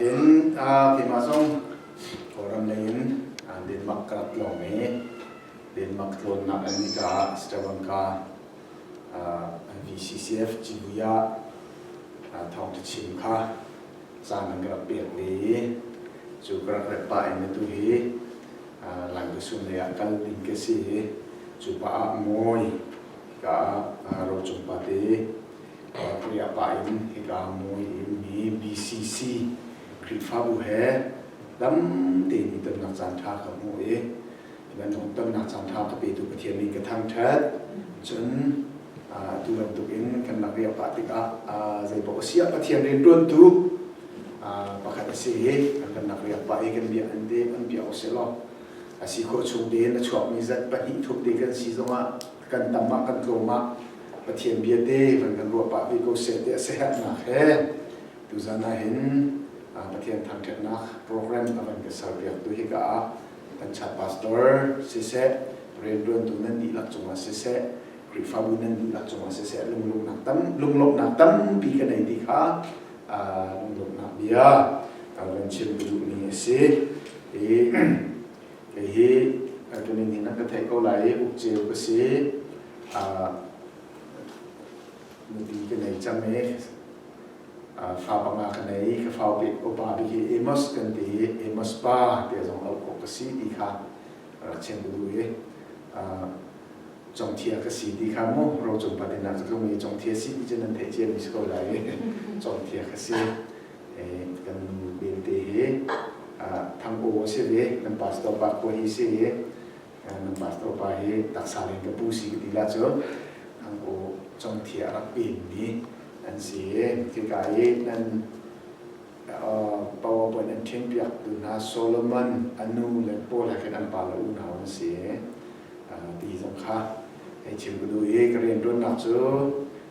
In keimah zong Kawlram lei in Denmark ka rak tlawng i Denmark tlawnnak an nika ah Sri Lanka an VCCF Cibuya thawngthachim kha caan an ka rak pek ve i cu ka rak rat pah in tu hi Lankasun lei ah kal ding ka si i cu pa ah Mawi ka ro cung pa te Pui a pa in hika mui in mi BCC Khrihfabu he dam tein i tonnak caanṭha ka hmuh i nan tonnak caanṭha ka petu Pathian nih ka thangṭhat cun atu bantuk in kan lak i a pah tikah zeipaoh a siah Pathian rianṭuantu pakhat a si hi an kan lak i a pah i kan bia an dep an piah ko seh law a si khawh chung tein a chuakmi zat pahnih thup te kan si zongah kan tam ah kan tlawm ah Pathian bia te van kan ruah pah ve ko seh ti a siherhnak he tuzan ah hin Pathian thangṭhatnak program a van ka serpiak tu hi ka ah kan chat pastor siseh rianṭuantu nan dihlak cungah siseh Khrihfabu nan dihlak cungah siseh lunglawmhnak tam lunglawmhnak tampi ka nei ti kha lunglawmhnak bia ka van chim ka duhmi a si i Hihi tuning in an ka theih ko lai i uk ceu ka si. Nupi ka nei cang i fa panga ka nei. Ka fau te upa bik hi Amos kan ti i Amos pa te zong auh ko ka si ti kha rak chim duh i chongthia ka si ti kha mu ro cung pa tinak ka mi chongthia si ti cun an theih cia mi si ko lai i chongthia ka si kan belte hi thangbo a si ve kan pastor pa khua hi si i kan pastor pa hi taksa in ka pu si ka ti la cu thangbo chongthi a rak pen mi an si khi ka i nan powerpoint an ṭhen piak tu hna Solomon anu le Paul ha khan an pa la u hna an si ti zong kha hei chim ka duh i ka rian ruannak cu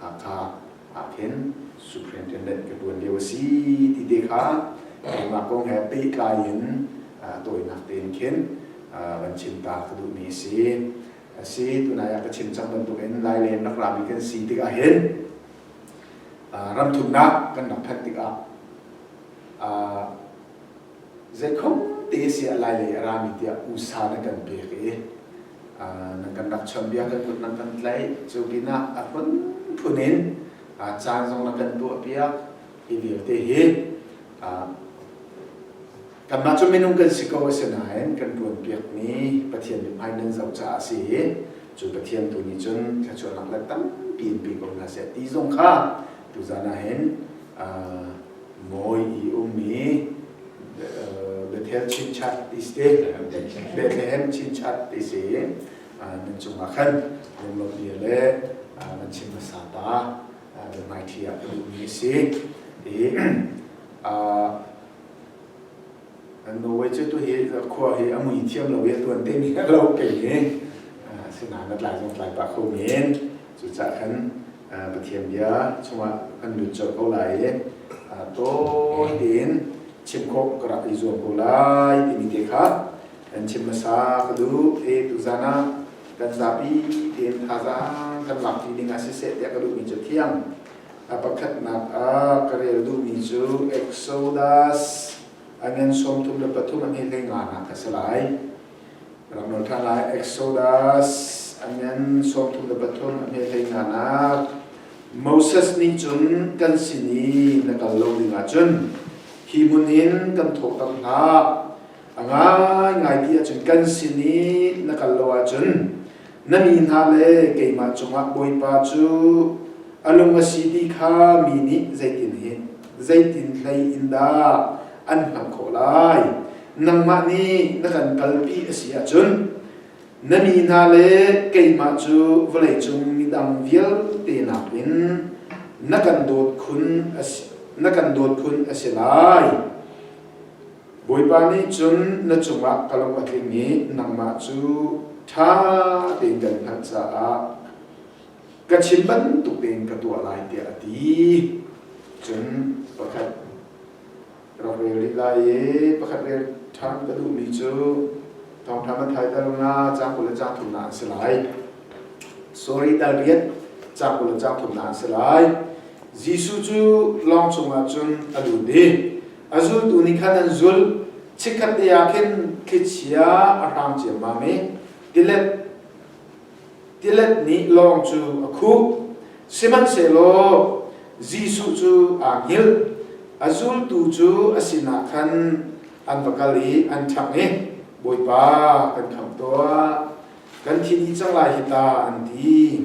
Hakha aa khen. Superintendent ka tuan lio a si ti te kha keimah kong he pehtlai in tawinak tein khin van chim ta ka duhmi a si. A si, tunai ah ka chim cang bantuk in Laileng rak rami kan si tikah hin ramthumnak kan rak phanh tikah Zekhote siah lai lei a rami tiah usa na kan pek i nan kan rak chawnbia kan kut nan kan tlaih cu pinah a phunphun in caan zong na kan tuahpiak hi vialte hi kanmah cu minung kan si ko asinain kan ṭuanpiakmi Pathian mithmai nan zoh caah a si i cu Pathian tu nih cun thluachuahnak le tampi in pe ko hna seh ti zong kha tuzan ah hin mawi i um i Bethel chinchat ti si, Bethlehem chinchat ti si, nan cungah khan lunglopi le nan chim hmasa ta biahmaiṭhi ah ka duhmi a si. I an Norway cu tu hi khua hi a mui thiam lo i tuan te mi lo kei ni sinah na tlai zong tlai pah kho men cucah khan Pathian bia chungah kan lut cio ko lai i tawi tein chim khawh ka rak i zuam ko lai timi te kha kan chim hmasa ka duh e tuzan ah kan zapi tein thazaang kan lakpi ding ah siseh tiah ka duhmi cu thiang a pakhatnak ah ka rel duhmi cu Exodus angen sawm thum le pathum an hi hlei nga nak ka si lai Rak nol ṭhan lai. Exodus amen sawmthum le pathum a hme hlei nanak Moses nih cun kan sin i na kal lo dingah cun hi hmun in kan thawh tak hna a ngaingai ti ahcun kan sin i na kal lo ahcun na mi hna le keimah cungah Bawipa cu a lung a si ti kha mi nih zeitin hin zeitin hlei in dah an hngalh khawh lai nangmah nih na kan kalpi a si ahcun na mi hna le keimah cu vawlei cung midang vialte nakin na kan dawt khun a si na kan dawt khun a si lai Bawipa nih cun na cungah ka lung a tling i nangmah cu ṭha tein kan hngalh caah ka chim bantuk tein ka tuah lai tiah a ti. Cun pakhat rak rel rih lai i pakhat rel ṭhan ka duhmi cu thawngṭha Matthai dal nga caang kul le caang thum ah an si lai. Sorry dal riat caang kul le caang thum ah an si lai. Jesuh cu lawng cungah cun a lut i a zultu nih khan an zul chikkhat ni ah khin thlichia a hrang ciammam i tilet tilet nih lawng cu a khuh sihmanhsehlaw Jesuh cu aa hngilh a zultu cu a sinah khan an va kal i an ṭhang i Bawipa kan khamh tuah kan thi dih cang lai hi ta an ti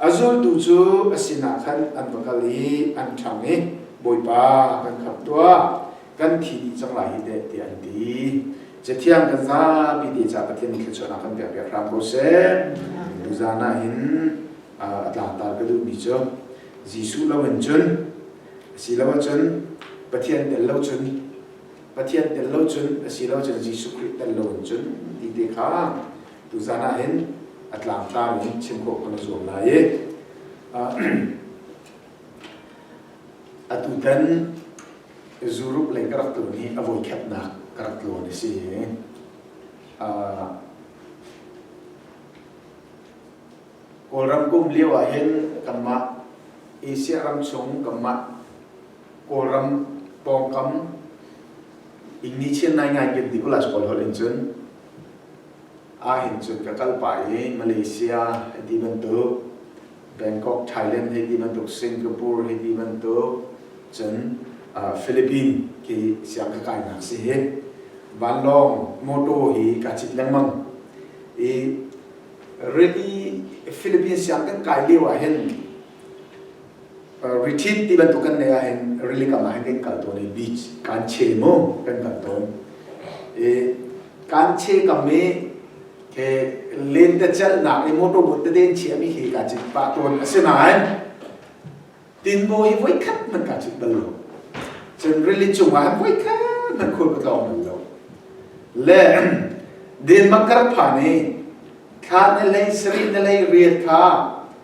A zultu cu a sinah khan an va kal i an ṭhang i, Bawipa, kan khamh tuah, kan thi dih cang lai hi teh, tiah an ti. Cathiang kan zapi te ca Pathian nih thluachuahnak kan pekpiak hram ko seh. Nuzan ah hin a tlangtar ka duhmi cu Jesuh loin cun asiloah cun Pathian tel lo cun Pathian tel lo cun asilo cun Jesuh Khrih tel lo in cun ti te kha Tuzan ah hin a tlangtlam in chim khawh kan zuam lai i atu tan zuruk leng ka rak tlun hi a voi khatnak ka rak tlawn a si Kawlram kum lio ah hin kanmah Asia ram chung kanmah Kawlram pawngkam in ni chin nai ngai kim di kulas pawl hol in cun Ahhin cun ka kal pah i Malaysia hi ti bantuk, Bangkok, Thailand hi ti bantuk, Singapore hi ti bantuk, cun Philippines hi siang ka kainak si hi. Vanlawng motor hi ka cit lengmang i ready Philippines siang kan kai lio ahhin retreat ti bantuk kan neih ahhin rili kam ahhin kan kal tawn i beach kan che mu kan kal tawn i kan che kam i len te celhnak le motor boat te den chiami hi ka cit pah tawn a si nain tinbo hi voi khat man ka cit bal lo cun rili cungah voi khat man khul ka tlawng bal lo le denmark kar pha nih thla ne lei sari ne lei riat kha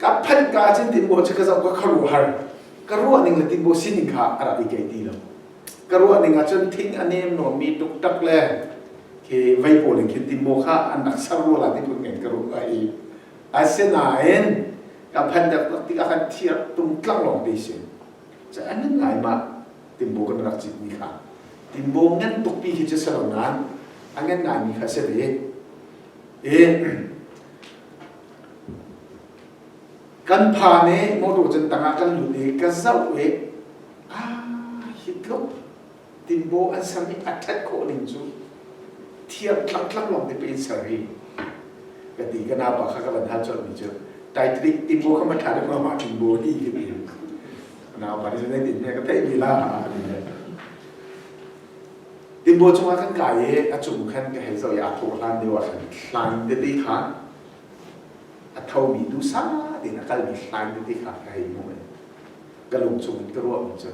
ka phan ka cin tin bo ka zam ka kharu har ka ruah ning le tin bo sining kha ara bi kai ti lo ka ruah ning ahcun thing a nem no mi tuk tak le ke vei ko ling khin tin bo kha an nak sar ru la tin kun ngen ka ru ka i asinain ka phan dak ti ka kan thiar tung tlang long ti sin cha an ngai ma tin bo kan rak chit ni kha tin bo ngan tuk pi hi che salo nan angen ngai mi kha se be e Kan pa nih motor cun tangah kan lut i ka zoh i aa hit lo tinbaw an ser i a ṭhat khawh ning cu thiang tlangtlang lawng te pei ser hi ka ti ka naupa kha ka van hal colh mi cu taitri tinbaw kha ma thla deuh mah tinbaw hi ka ti naupa nih cun zeitin hme ka theih mi la ha a ti Tinbaw cungah kan kai i a cung khan ka hei zoh i a thaw hlan deuh ah khan hlai in tete kha a thomi dusa tein a kalmi hlai in tete kha ka hei hmuh i ka lung chungin ka ruah cu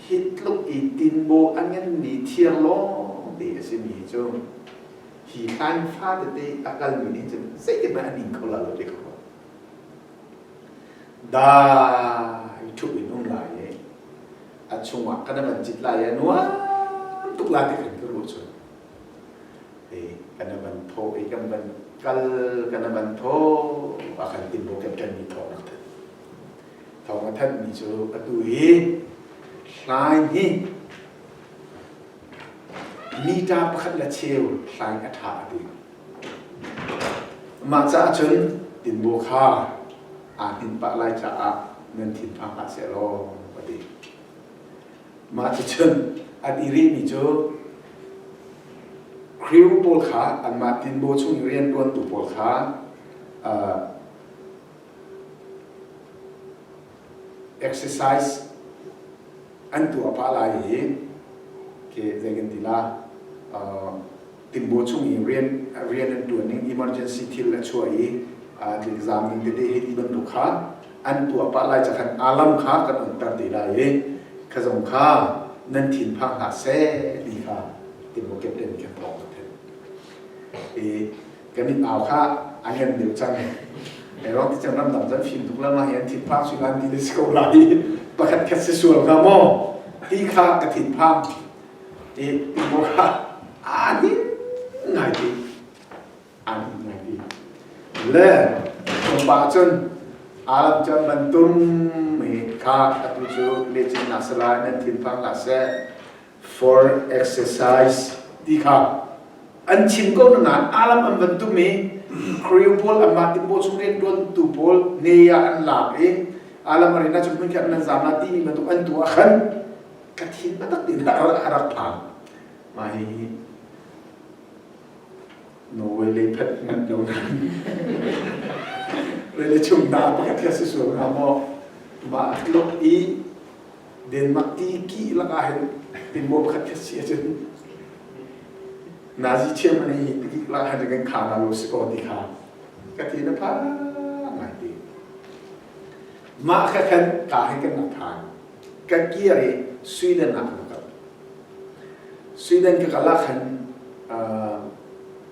hi tluk i tinbaw a nganmi thir lawng te a simi hi cu hi hlai fa tete a kalmi nih cun zeihmanh a ning kho lo te ka ruat dai thup in um lai i a chungah ka na van cit lai a nuam tuk la ti kan ka ruh chun eh ka na van tho i kan van kal ka na van tho a kan tin bo kan kan mi tho nak than thong a than mi cu a tu hi hlai hi Meter pakhat le cheu hlai a ṭha a buin. Mah caah cun tinbaw kha aa hninh pah lai caah nan thin phang hlah seh law ka ti. Mah cun an i rihmi cu crew pawl kha anmah tinbaw chung rianṭuantu pawl kha uh, exercise an tuah pah lai i zei kan ti la timbo chung i rian rian an tuan ning emergency thil a chuah i thil zaam ning tete hi ti bantuk kha an tuah pah lai cakhan alam kha kan on tar te lai i kha zong kha nan thin phang hlah seh ti kha timbo captain kan thawk i kan in au kha a lian deuh cang e rok ti ram dang kan fim tuk lama hian thit phang su lan ni le ko la i pakhat khat se sual ka mo ti kha ka thit phang ti mo kha ani ngai ti ani ngai ti le kumpa chun alam chan bantum mi kha atu chu le chin na sala nan thin phang la se for exercise ti kha an chim ko nain alam an van tum i kriu pawl anmah timbaw chung rian tuantu pawl ne ah an lak i alam a rina chung hmun khan nan zam la timi batuk an tu ah khan ka thin batak in a rak phang mah hi Norway lei phet ngat no nan rele chung da pakhat kha si suang ha mo ma lok i Denmark ti kih lak ah hin timmo khat khi si ahcun Nazi chairman hi ti lak ah hin kan kha na lo si ko ti kha ka ti na pha ngai ti mah ka khan ka hi kan nak than ka kir i Sweden ah na kal Sweden ka kala khan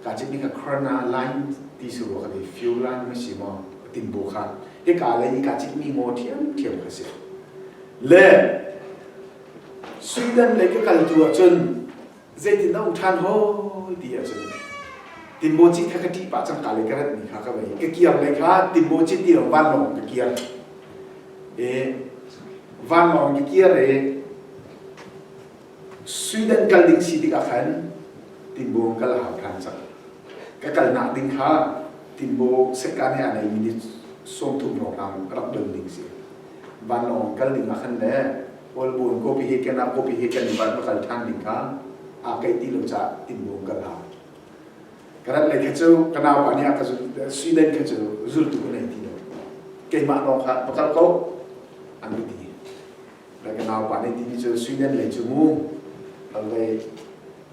ka chik ni ka khorna line ti su ka di fuel line ma si mo timbo kha hi ka lai ka chik mi mo thiam thiam ka si le Sweden lei ka kal tu ahcun zeitin na um ṭhan hoi ti ahcun Timbo Cit kha ka ṭih pah cangka lei ka ratmi kha ka vei ka kiang lei kha Timbo Cit ti vanlawng ka kiang e vanlawng ka kiar e Sweden kal ding si tik ah khan Timbo kal hau ṭhan cang ka kalnak ding kha Timbo sekka nih a nei minute sawmthum lawng ram rak don ding si vanlawng kal ding ah khan le Kawlbawn kawpi hi Kenang kawpi hi kan i barh makal ṭhan ding kha aa kaih ti lo caah innbung kal ha. Ka rat lei kha cu ka naupa nih a ka suinen kha cu zultu ka nei ti lo. Keimah lawng kha va kal ko an ka ti. Lai ka naupa nih timi cu suinen lei cu mu, hal vei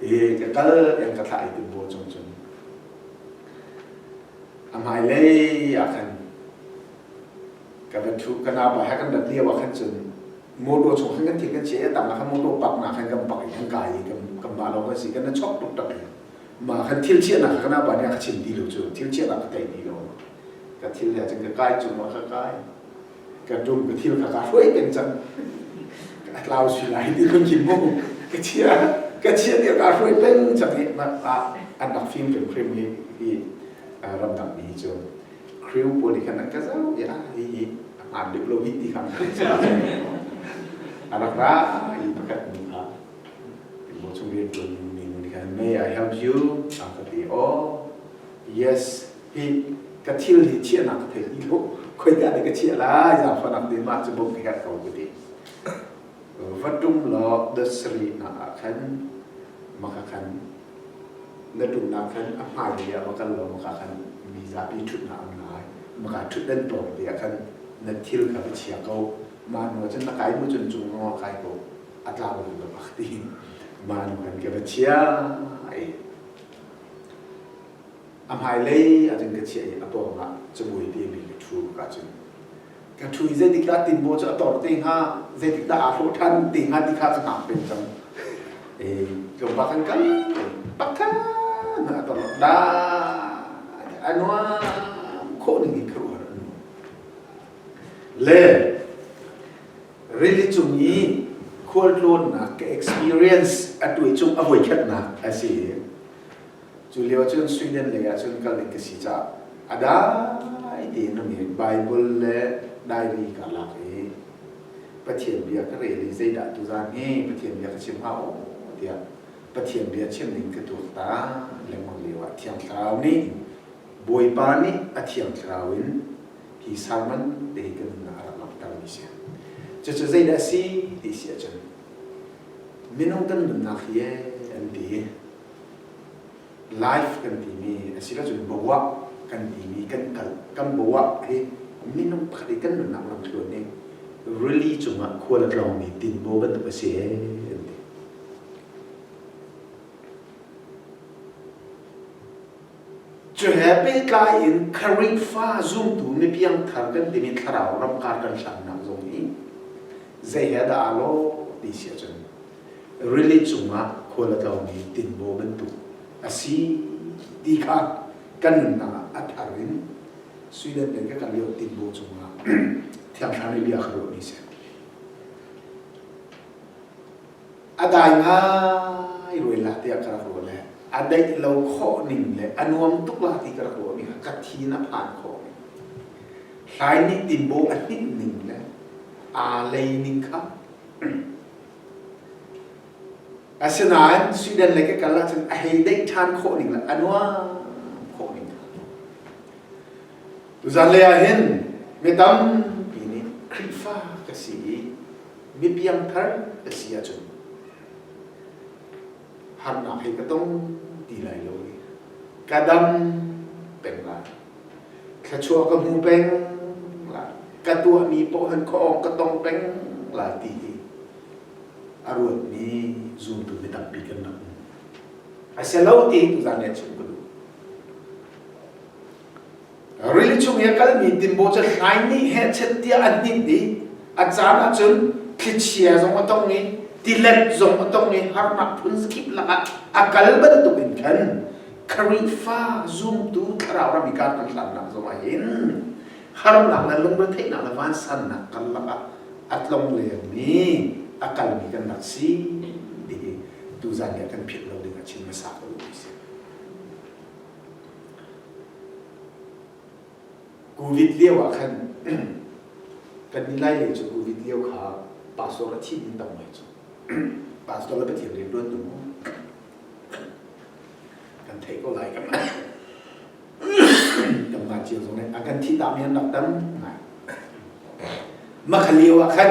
i ka kal tiang ka thlah i ti bu chung cun a hmai lei ah khan ka van thu ka naupa he kan van lio ah khan cun motor chung khan kan thi kan che tam na khan motor pak na khan kan pak i kan kai i kan kan ba lo kan si kan chok tuk tak ya ma khan thil chia na kha kana ba nia kha chim ti lo chu thil chia na ka tei ti lo ka thil ya chang ka kai chung ma ka kai ka tum ka thil kha ka hruai peng cang ka tlau si lai ti kan chim mu ka chia ka chia ti ka hruai peng cang i ah an rak fim kan krim hi hi ramdang mi cu kriu pawl nih khan ka zau ya i a hmaan lip lo hi ti khan a rak ra i pakhat mu kha mo chung rian tuan mi nih khan may I help you after the oh yes hi ka thil hi chiahnak ka thei ti lo khoidah da ka chiah lai zaangfahnak de mah cu bom ka herh ko kuti vatum lo da sri na ah khan maka khan na tum na khan a hmai ri a makal lo maka khan mi za bi thut na am lai maka thut dan to dia khan na thil ka ba chia ko ma nu cun na kai mu cun chung nga kai ko atla ba lo bakti ma nu kan ke ba chia ai A hmailei ahcun ka chiah i a pawngah cabuai temi ka ṭhu ka cun ka ṭhu i zeitikdah tinbaw cu a tor te hnga, zeitikdah aa hlawh ṭhan te hnga ti kha ka hngak peng cang. I tlawmpa khan kal pakhat a tor lai a nuam khawh ning in ka ruah an nuam. Le rili cung i khualtlawnnak ka experience a tuai cung a voi khatnak a si i Cu lio cun Sweden lei ah cun kal ding ka si caah a dai tein um i Baibal le diary ka lak i Pathian bia ka rel i zeidah tuzan hi Pathian bia ka chim hau tiah Pathian bia chim ding ka tuak ta lengmang lio ah Thiang Thlarau nih Bawipa nih a Thiang Thlarau in hi sermon te hi kan nun ah a rak langhtermi si. Cucu zeidah a si ti si ahcun minung kan nunnak hi an ti life kan timi asila cun bawah kan timi kan kal kan bawah hi minung pakhat i kan nunnak lamthluan hi rili cungah khual a tlawngmi tinbaw bantuk a si an ti cu he pehtlai in kharifa zumtu mipiang thar kan timi thlarau ramkar kan hlannak zong hi zei he dah aa lo ti si ahcun rili cungah khual a tlawmi tinbaw bantuk a si ti kha kan nunnak ah a thar in Sweden peng ka kan lio tinbaw cungah thiangthlarni bia kha ruahmi si a dai ngai ruailah tiah ka rak ruah le a daih lo khawh ning le a nuam tuk la ti ka rak ruah mi kha ka thi in a phan khawh mi hlai nih tinbaw a hnim ning le aa lei ning kha Asinain Sweden lei ka kal ahcun a hei deih ṭhan khawh ning le a nuam khawh ning. Tuzan lei ah hin mi tampi nih Khrihfa ka si i mi piangthar ka si ahcun harnak hi ka tong ti lai lo i ka dam peng lai thlachuah ka hmu peng lai ka tuahmi pohlan khawh ka tong peng lai ti hi a ruatmi zumtu mi tampi kan rak um a si lo ti tu zan ne chim ku duh Rili chung i a kalmi tinbaw cu hlai nih hehchet tiah a hninh i a caan ah cun thlichia zong a tong i tilet zong a tong i harnak phun kip lakah a kal bantukin khan Khrihfa zumtu thlarau ram i kaa kan hlannak zongah hin harnak le lungretheihnak le vansannak karlak ah a tlong lengmi a kalmi kan rak si ti hi tuzan nih a kan philh lo ding ah chin hmasa ko u sih. Covid lio ah khan kannih Lai lei cu Covid lio kha pastor a thih in tam ngai cu pastor le Pathian rian tuan tu kan thei ko lai kan kan mah cio zong nih a kan thi ta mi an rak tam ngai mah kha lio ah khan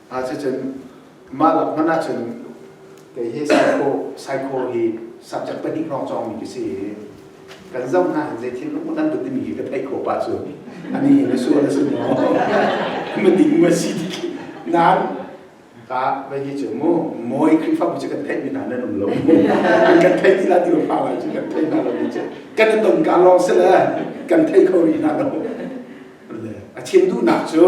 Ah cun mah lak hmanh ahcun kei hi psycho psycho hi subject pahnih hrawng cawngmi ka si i kan zoh hna hin zei thil lung nan dut timi hi ka theih ko pa cu ani hi na su na su ne ko ma ding ma si nan ka vai hi cu mu moi krifa bu kan theih mi hna nan um lo kan theih ti la ti fa la cu kan theih hna lo ni cu kan ton ka lo se le kan theih kho ri hna lo a chin duh nak cu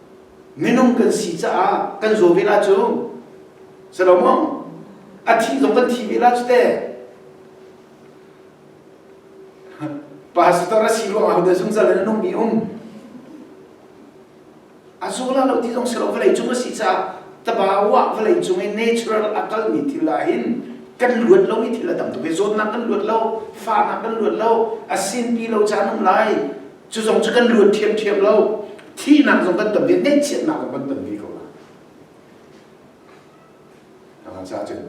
Minung kan si caah kan zaw vela cu si lo maw? A thih zong kan thi vela cu te. Pastor a si ruangah hote zungzal in a nung mi um. A zola lo ti zong si lo vawlei cung a si caah taba wah vawlei cung i natural a kal mi thil ah hin kan luat lo i thil a tam tuk i zawtnak kan luat lo fahnak kan luat lo a sinpi lo caan um lai Cu zong cu kan luat ṭhiamṭhiam lo. Thihnak zong kan ton ve, ngaihchiatnak zong kan ton ve ko lai. Dalam sa cun,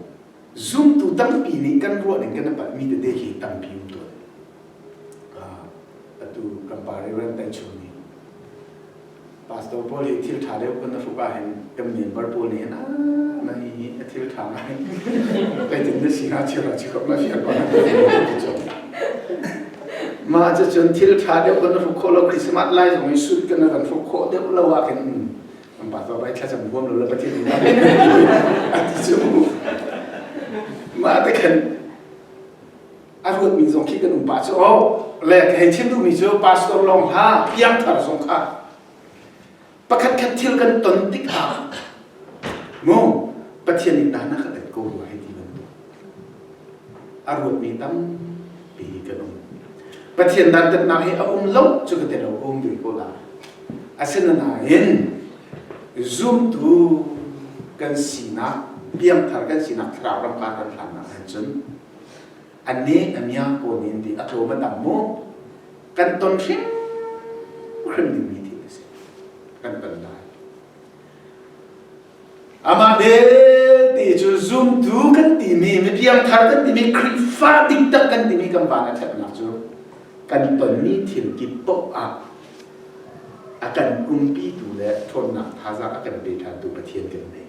zumtu tampi nih kan ruahning kan i palhmi tete hi tampi um tawn. Ah, atu kan pa Reverend Taichung nih pastor pawl hi thil ṭha deuh kan na hrupa hin kan member pawl nih hin a na i a thil ṭha ngai zeitin na si hnga thil rak si kok la fian pa mah cu cun thil ṭha deuh kan hruk khawh lo Christmas lai zong i sut kan kan hruk khawh deuh lo ah khin kan pastor bai thla cham huam lo la pathian na ti cu mah te khan a ruatmi zong khi kan upa cu oh le ka hei chim duhmi cu pastor long hla piangthar zong kha pakhat khat thil kan ton tik ah mu pathian nih dah na ka tet ko rua hei ti nan a ruatmi tampi kan um pathian dantatnak hi a um lo cu ka tel lo um dui ko la asinain zumtu kan sinak piangthar kan sinak thlarau ramkar kan hlannak han cun An nih a miang pawn in ti a tlawm an am mu. Kan ton hrim hrim ding mi thil a si. Kan ton lai. Amah belte cu zumtu kan timi, mipiang thar kan timi, Khrihfa diktak kan timi kan van a thlaknak cu kan tonmi thil kip poh ah a kan pumpitu le ṭhawnnak thazaang a kan pe ṭhantu Pathian kan ngei.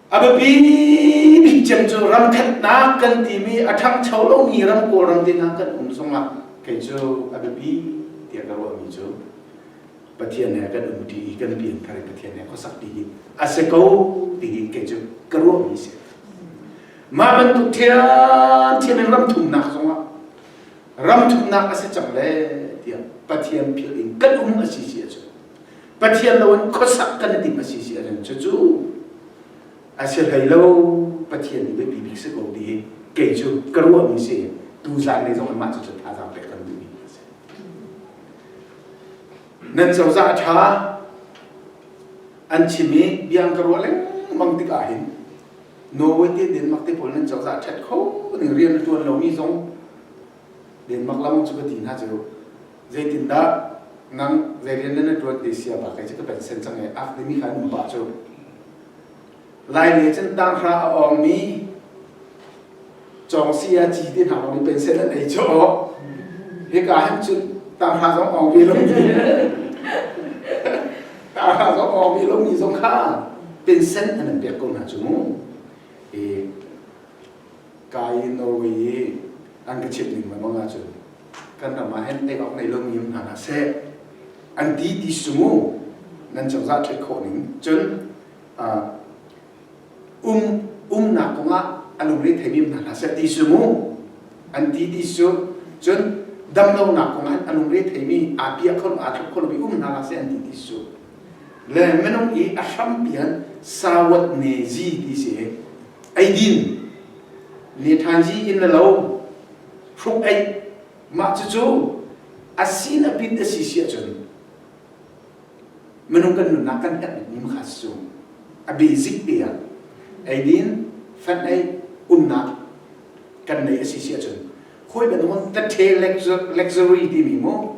A biapi bik cem cu ramkhatnak kan timi a ṭhangcho lomi ram kawlram tehna kan um zongah kei cu a biapi tiah ka ruahmi cu Pathian he kan um ṭi i kan pian thar i Pathian he khuasak dingin a si ko tingin kei cu ka ruahmi si. Mah bantuk thiamthiam in ram thumnak zongah ram thumnak a si cang le tiah Pathian philh in kan um a si si a cu. Pathian lo in khuasak kan i tim a si si a rem. Cucu a si hlei lo Pathian nih biapi bik si ko ti hi kei cu ka ruahmi si tu zaanlei zong in mah cu thazaang pek kan duhmi a si. Nan cozah a ṭha an chim i biang ka ruah lengmang tikah hin Norway te Denmark te pawl nan cozah ṭhat kho ning rian a ṭuan lomi zong Denmark lam cu ka ti hna cu Zeitindah nang zei rian nan ṭuan te sia ba kai cu ka pensen cang e ak dimi kha an ba cu laile cun tanghra a awngmi cawngsi a ci te hna lawng pensen an ei cu hika hin cun tanghra zong awng ve lo tanghra zong awng ve lo mi zong kha pensen an an pek ko hna cu mu e ka i norway i an ka chimh ning lengmang ahcun kan ram ah hen tei awk nei lo mi um hna hlah seh an ti ti sumu nan cozah ṭhet khawh ning cun um umnak kong ah a lungre thei mi hna hlah seh ti sumu an ti ti su cun damlonak kong ah a lungre thei mi aa piah kho lo aa thlop kho lo mi um hna hlah seh an ti ti su le minung i a hram pian sawat ne zi ti si eidin lethanji in le lo hruk ei mah cucu asin abit asi si ahcun minung kan nunnak kan herh bikmi makha si cu a basic te ah eidin fan ei unnak kan nei asi si ahcun hoi banung ka the luxury timi mu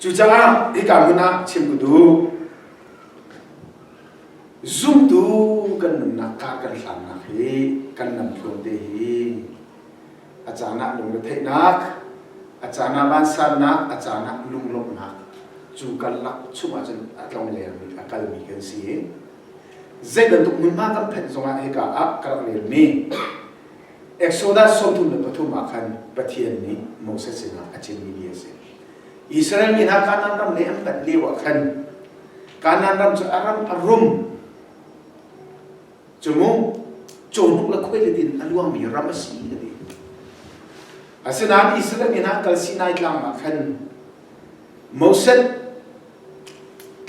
Cucaah hika hmun ah chim u duh. Zumtu kan nunnak kha kan hlannak hi kan lamtluan te hi a caan ah lungretheihnak, a caan ah vansannak, a caan ah lunglawmhnak cu karlak chungah cun a tlong lengmi, a kalmi kan si i, zei bantuk hmunhma kan phanh zongah hika ah ka rak relmi Exodus sawmthum le pathum ah khan Pathian nih Moses sinah a chimmi ni a si. Israel mi hna Kanaan ram le an tat lio ah khan Kanaan ram cu a ram a rum cumu cawhnuk le khuailet in a luangmi ram a si ka ti. Asinain Israel mi hna kal Sinai tlang ah khan Moses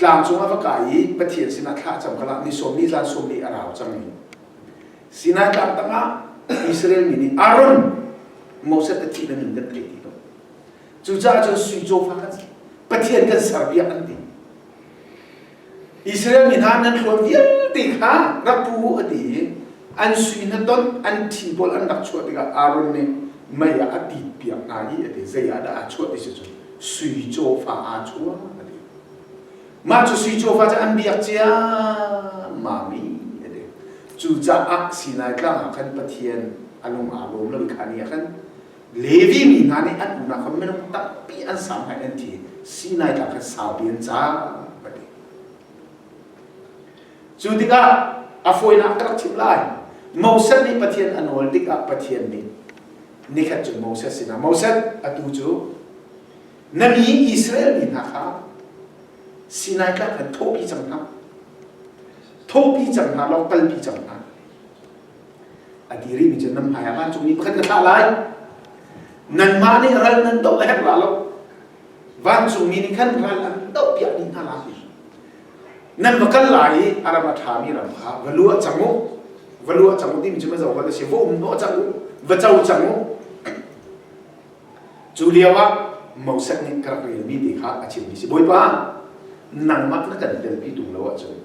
tlang cung a va kai i Pathian sinah thla a cam kal ah ni sawm ni zan sawm ni a rau cang i Sinai tlang tangah Israel mi nih Aaron Moses a thih nan in kan thei ti lo cucaah cun sui cawfa kan Pathian kan ser viah an ti Israel mi hna nan hluan vialte kha rak pu a ti i an sui na ton an thi pawl an rak chuah tikah Aaron nih mei ah a tit piak hna i a ti zei ah dah a chuah ti si cun sui cawfa aa chuah a ti Mah cu sui cawfa cu an biak ciammami a ti. Cucaah Sinai Tlang ah khan Pathian a lung aa lawm lo i kha ni ah khan Levi mi hna nih an unau kha minung tampi an sau hna an ti. Sinai Tlang khan saupi an cang a ti. Cu tikah a fawinak ka rak chimh lai. Moses nih Pathian a nawl tikah Pathian nih nikhat cun Moses sinah Moses atu cu Na mi Israel mi hna kha Sinai tlang khan thawhpi cang hna. Thawhpi cang hna, lo kalpi cang hna. A ti rih mi cu nan hmai ah vancung mi pakhat ka thlah lai. Nanmah nih ral nan doh a herh la lo. Vancung mi nih khan ral an doh piak dih hna lai. Nan va kal lai i a ram a ṭha mi ram kha va lu ah cang u. Va lu ah cang u timi cu ma zo va la si va um hnawh cang u. Va co cang u. Cu lioah Moses nih ka rak relmi te kha a chimmi si. Bawipa, nangmah na kan telpi tung lo ahcun,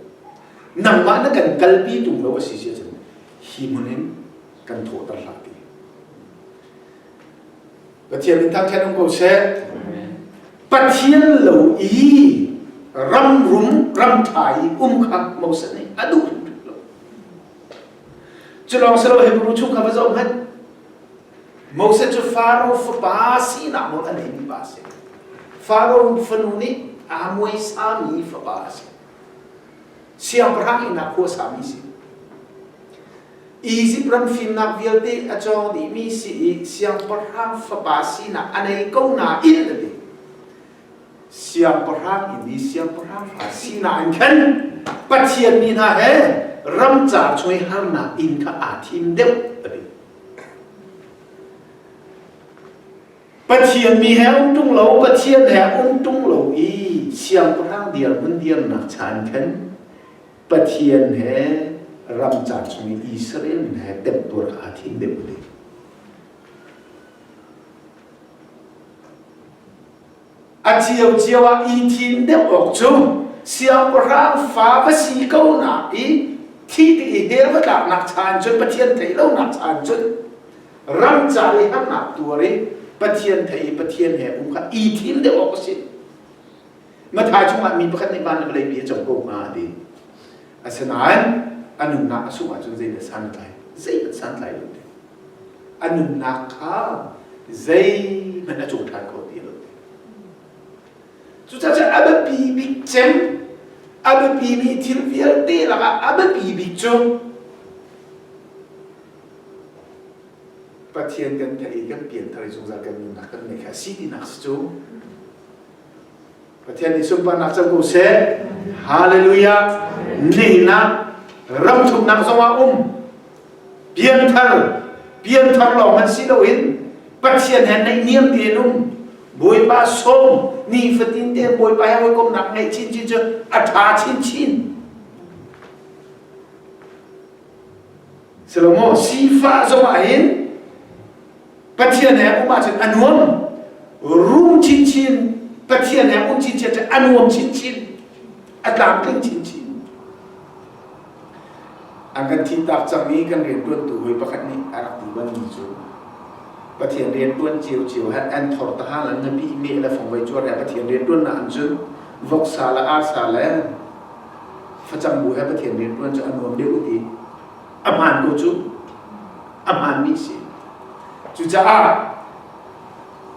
nangmah na kan kalpi tung lo a si si ahcun, hi hmun in kan thawhter hlah ti. Pathian min kha ṭhen um ko seh. Pathian lo i ram rum ram ṭha i um kha Moses nih a duh hrimhrim lo. Cu lawng si lo Hebrew chung kha va zoh hmanh. Moses cu Faro fapa sinak nawl a neimi pa a si. Faro fanu nih aa muaisami fapa a si. Siangpahrang ihnak khua sami si. Izipt ram fimnak vialte a cawng dihmi si i siangpahrang fapa sinak a nei ko nain a ti. Siangpahrang in i siangpahrang fa sinak in khan Pathian mi hna he ramcar chuai harnak inn kha aa thim deuh a ti. Pathian mi he um ṭung lo, Pathian he um ṭung lo i siangpahrang dirhmun dirnak cha in khan Pathian he ram ca chung i Israel min he temtuar aa thing deuh le. A cio ah i thim deuh awk cu siangpahrang fa va si ko nak i thi ti i der va tlaknak chan cun Pathian thei lonak chan cun ramcar i harnak tuar i Pathian thei i Pathian he um kha i thim deuh awk a si. Matha chungah mi pakhat nih van le vawlei pi a cang ko hnga ti. Asinain a nunnak a sungh ahcun zei dah santlai? Zeihmanh santlai lo ti. A nunnak kha zeihmanh a cung ṭhan kho ti lo ti. Cucaah a biapi bik cem, a biapimi thil vialte lakah a biapi bik cu Pathian kan theih i kan pianthar i zungzal kan nunnak kan ngeih kha a si tinak si cu Pathian nih sunparnak co ko seh. Hallelujah. Ningnak, ramthuknak zongah um. Pianthar, pianthar lawng hmanh si loin Pathian he naihniam tein um. Bawipa sawm, nifatin te Bawipa he hawikomnak ngeih chinchin cu a ṭha chinchin. Sihlomaw sifah zongah hin Pathian he um ahcun a nuam rum chinchin Pathian he um chinchin cu a nuam chinchin a tlamtling chinchin an kan thintak cangmi kan rianṭuantu hawi pakhat nih a rak ti banmi cu Pathian rianṭuan cio cio han an thor ta hang an ngapi meh le fongvei cuar le Pathian rianṭuannak an cun voksa le arsa le Facang bu he Pathian rianṭuan cu a nuam deuh i a hmaan bu cu a hmaanmi a si. Cucaah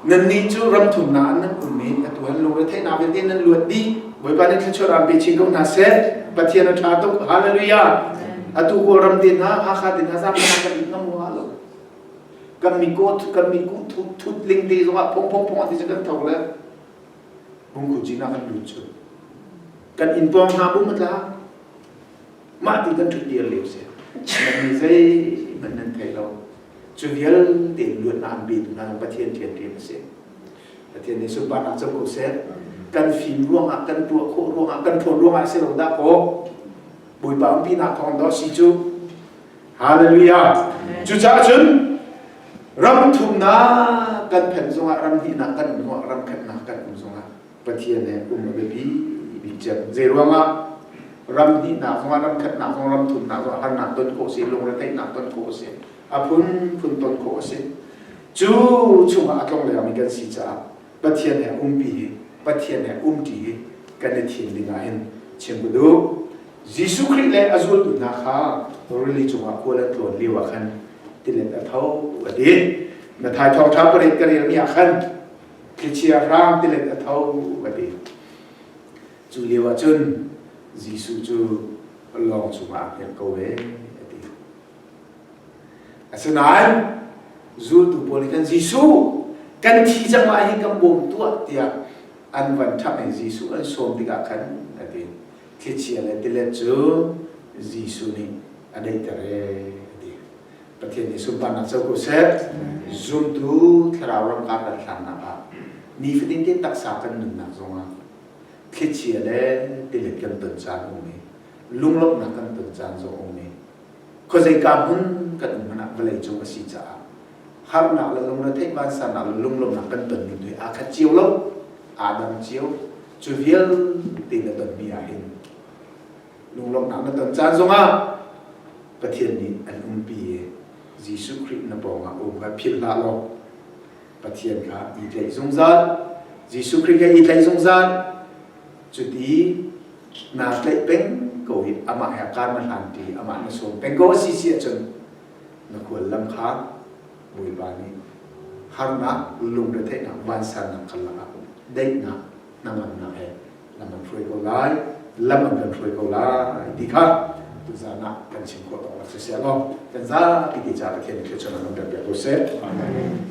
nannih cu ram thumnak an nan um i atu an lungretheihnak vialte nan luat dih. Bawipa nih thluachuah ram pe chin ko hna seh. Pathian a ṭha tuk. Hallelujah. Atu Kawlram te hna, Hakha te hna zaangfahnak kan it ngam rua lo. Kan mi kawt, kan mi kuh thut, thutling te zongah phongphong phongah ti cu kan tho le. Pungkhuci nak an lut cu. Kan in pawng hna bum a tla. Mah ti kan ṭhut dir lio se. Nan nih zei hmanh nan thei lo. Cu vialte in luat na an betu hna Pathian thianrian a si. Pathian nih sunparnak cu ko seh. Kan fim ruangah, kan tuah khawh ruangah, kan ṭhawn ruangah si lo dah kaw Bawipa umpinak thawng dawh si cu Hallelujah! Cucaah cun ram thumnak kan phen zongah, ram hnihnak kan um zongah, ram khatnak kan um zongah Pathian he um a biapi bik cem. Zei ruangah ram hnihnak zongah, ram khatnak zong, ram thumnak zongah harnak ton khawh si, lungretheihnak ton khawh si, a phunphun ton khawh a si. Cu chungah a tlong lengmi kan si caah Pathian he a umpi hi Pathian he um ṭi hi kan i thim ding ah hin chim u duh. Jesuh Khrih le a zultu hna kha rili cungah kual an tlawn lio ah khan tilet a tho a ti. Mathai thawngṭha pariat ka relmi ah khan thlichia hrang tilet a tho a ti. Cu lio ah cun Jesuh cu lawng cungah a dirh ko ve a ti. Asinain zultu pawl nih khan Jesuh kan thi cang lai hi kan bawm tuah tiah an van ṭhangh i Jesuh an sawm tikah khan a ti. Thlichia le tilet cu Jesuh nih a daihter ee a ti. Pathian nih sunparnak co ko seh. Zumtu thlarau ramkar kan hlannak ah nifatin te taksa kan nunnak zongah thlichia le tilet kan ton caan a um i lunglawmhnak kan ton caan zong a um i khuazeika hmun kan um hmanh ah vawleicung a si caah harnak le lungretheih vansanak le lunglawmhnak kan ton ning hi aa khat cio lo aa dang cio cu vialte na tonmi ah hin lunglawmhnak na ton caan zongah Pathian nih an umpi i Jesuh Khrih na pawngah um kha philh hlah law Pathian kha i tlaih zungzal Jesuh Khrih kha i tlaih zungzal Cuti naa tlaih peng ko i amah he kaan na hlanpi i amah na sawm peng ko a si si ahcun na kual lam kha Bawipa nih harnak, lungretheihnak, vansannak kar lakah daihnak, hnangamnak he lam an hruai ko lai, lam an kan hruai ko lai ti kha tuzan ah kan chim khawh tawk lak siseh law kan zapi ti ca Pathian thluachuah nan kan biak ko seh. Amen.